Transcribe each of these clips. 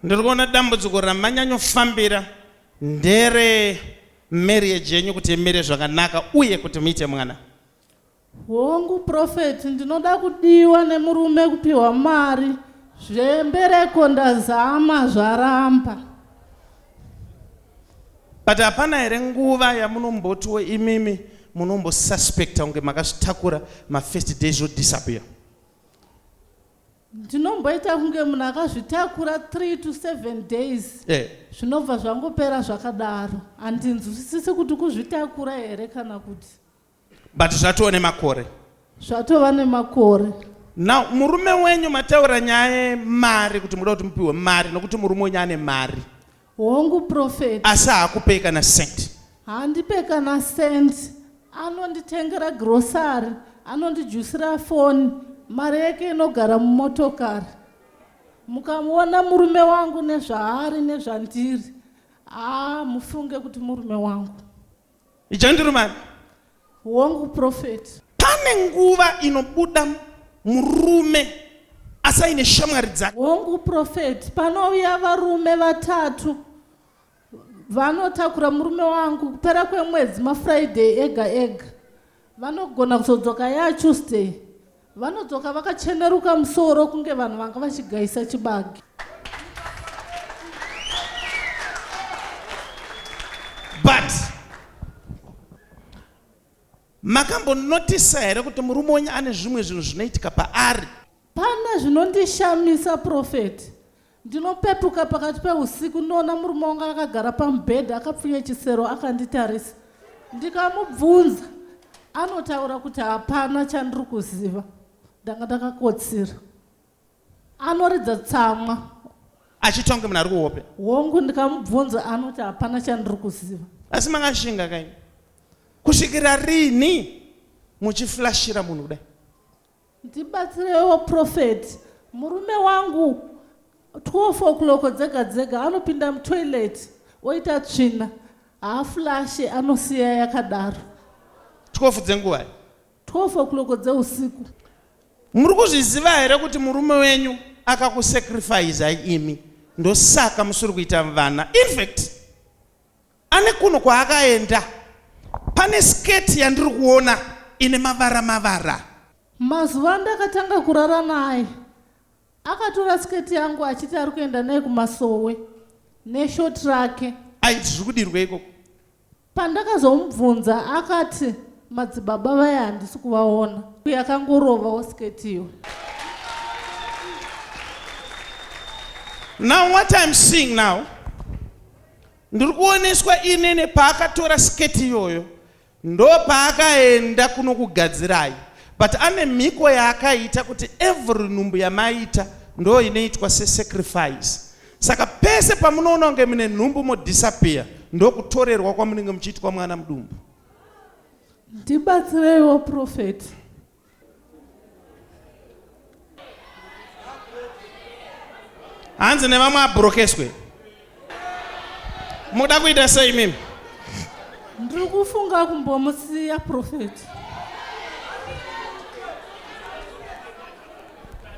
Ndiri kuona dambudziko ramanyanyofambira ndere marriage yenyu kuti imire zvakanaka uye kuti muite mwana. Hongu prophet ndinoda kudiwa nemurume kupiwa mari zvembereko ndazama zvaramba. But hapana here nguva yamunombotiwo imimi munombosuspecta kunge makazvitakura mafirst days zvodisappear. Ndinomboita kunge munhu akazvitakura 3 to 7 days eh. zvinobva eh. zvangopera zvakadaro handinzwisisi kuti kuzvitakura here kana kuti but zvatova nemakore zvatova nemakore now murume wenyu mataura nyaya yemari kuti muda kuti mupiwe mari nokuti murume wenyu ane mari Hongu prophet. Asi haakupei kana cent. Handipe kana cent. Anonditengera grocery, anondijusira phone, mari yake inogara mumotokari. Mukamuona murume wangu nezvaari nezvandiri, haa mufunge kuti murume wangu. Ijandirumani. Hongu prophet. Pane nguva inobuda murume asi aine shamwari dzake. Hongu prophet. Panouya varume vatatu vanotakura murume wangu kupera kwemwedzi mafriday ega ega Vanogona kuzodzoka yaa Tuesday. Vanodzoka vakacheneruka musoro kunge vanhu vanga vachigaisa chibage. But makambonoticer here kuti murume wenyu ane zvimwe zvinhu zvinoitika paari Pane zvinondishamisa prophet. Ndinopepuka pakati pehusiku ndoona murume wangu akagara pamubhedha akapfunya chisero akanditarisa. Ndikamubvunza anotaura kuti hapana chandiri kuziva. Ndanga ndakakotsira. Anoridza tsamwa. Achitonge munhu ari kuhope. Hongu ndikamubvunza anoti hapana chandiri kuziva. Asi makashinga kaini. Kusvikira rini muchiflashira munhu kudai. Ndibatsirewo prophet murume wangu 12 o'clock dzega dzega anopinda mutoilet oita tsvina haaflashe anosiya yakadaro 12 dzenguvai 12 o'clock dzeusiku muri kuzviziva here kuti murume wenyu akakusacrifice imi ndosaka musiri kuita vana infact Ane kuno kwaakaenda. Pane skirt yandiri kuona ine mavara mavara. Mazuva andakatanga kurara naye akatora skirt yangu achiti ari kuenda naye kumasowe neshort rake. Aiti zviri kudirwa ikoko? Pandakazomubvunza akati madzibaba vaya handisi kuvaona. Yakangorovawo skirt iyo. Now what I'm seeing now Ndiri kuoneswa ini nepaakatora sketi iyoyo ndopaakaenda kunokugadzirai but ane mhiko yaakaita kuti every nhumbu yamaita ndo inoitwa sesacrifice saka pese pamunoona kunge mune nhumbu modisappear ndokutorerwa kwamunenge muchiitwa mwana mudumbu. Ndibatsireiwo prophet. hanzi nevamwe abrokeswe muda kuita sei mimi ndiri kufunga kumbomusiya profeti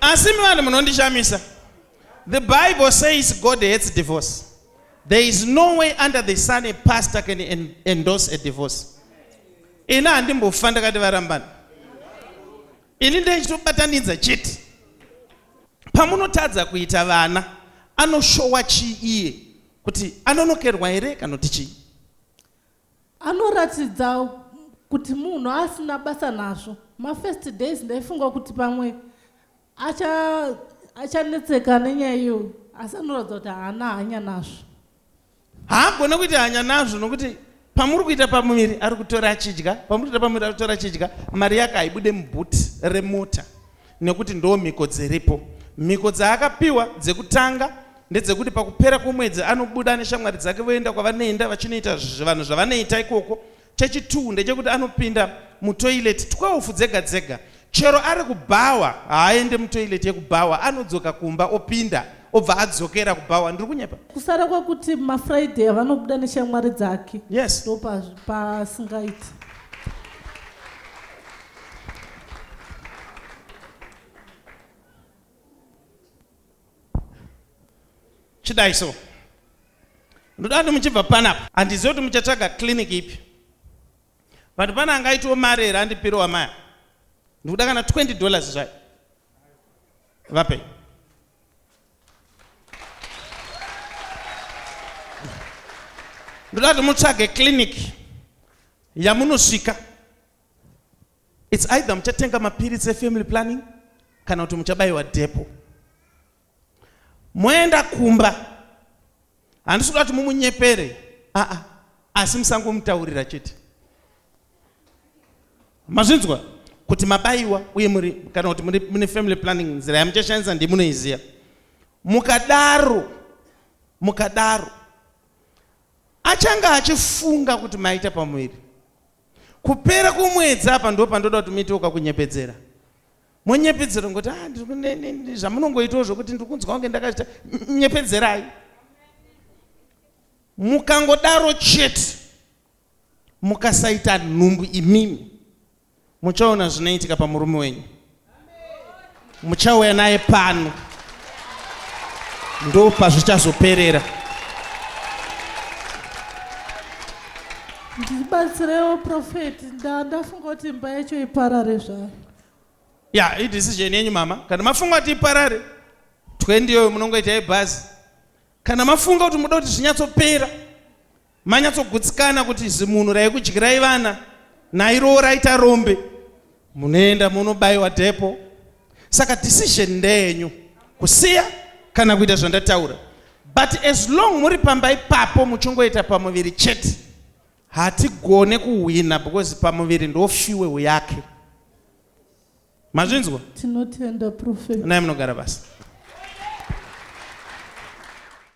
asi mivanhu munondishamisa the bible says god hates divorce there is no way under the sun a pastor can endorse a divorce ini handimbofa ndakati varambana ini ndaichitobatanidza chete pamunotadza kuita vana anoshowa chii iye kuti anonokerwa here kana kuti chii anoratidza kuti munhu asina basa nazvo mafirst days ndaifunga kuti pamwe acha achanetseka nenyaya iyo asi anoratidza kuti haana hanya nazvo haagone kuita hanya nazvo nokuti pamuri kuita pamuviri ari kutora achidya pamuri kuita pamuviri ari kutora achidya mari yake haibude mubhuti remota nekuti ndoo mhiko dziripo mhiko dzaakapiwa dzekutanga ndedzekuti pakupera kwomwedzi anobuda neshamwari dzake voenda kwavanoenda vachinoita vanhu zvavanoita ikoko Chechitwu ndechekuti anopinda mutoilet 12 dzega dzega. Chero ari kubhawa haaende mutoilet yekubhawa anodzoka kumba opinda obva adzokera kubhawa. Ndiri kunyepa? Kusara kwekuti maFriday avanobuda neshamwari dzake Yes. ndopasingaiti. chidai so ndoda kuti muchibva panapa handizive kuti muchatsvaga clinic ipi but pane anga aitiwo mari here andipiro wamaya ndikuda kana 20 dollars zvayo vapei ndoda kuti mutsvage clinic yamunosvika It's either muchatenga mapiritsi efamily planning kana kuti muchabayiwa depo. Moenda kumba, handisi kuda kuti mumunyepere, aa, ah, ah, asi musangomutaurira chete. Mazvinzwa kuti mabayiwa uye muri kana kuti muri mune family planning nzira yamuchashandisa ndimunoiziya. Mukadaro, mukadaro, achanga achifunga kuti maita pamuviri. kupera kwomwedzi apa ndo pandoda kuti muitewo kakunyepedzera monyepedzera ngokuti ah, zvamunongoitawo zvokuti ndiri kunzwa kunge ndakazvita nyepedzerai mukangodaro chete mukasaita nhumbu imimi muchaona zvinoitika pamurume wenyu muchauya naye pano ndo pazvichazoperera ndibatsirewo profeti ndandafunga kuti imba yacho iparare zvayo ya idecision yenyu mama kana mafunga kuti iparare twendi iyoyo munongoita yebhazi kana mafunga kuti muda kuti zvinyatsopera manyatsogutsikana kuti zimunhu raikudyirai vana nairowo raita rombe munoenda munobayiwa depo saka decision ndeyenyu kusiya kana kuita zvandataura but as long muri pamba ipapo muchingoita pamuviri chete hatigone kuhwina because pamuviri ndofiwewo yake mazvinzwa tinotenda prophet nai munogara basa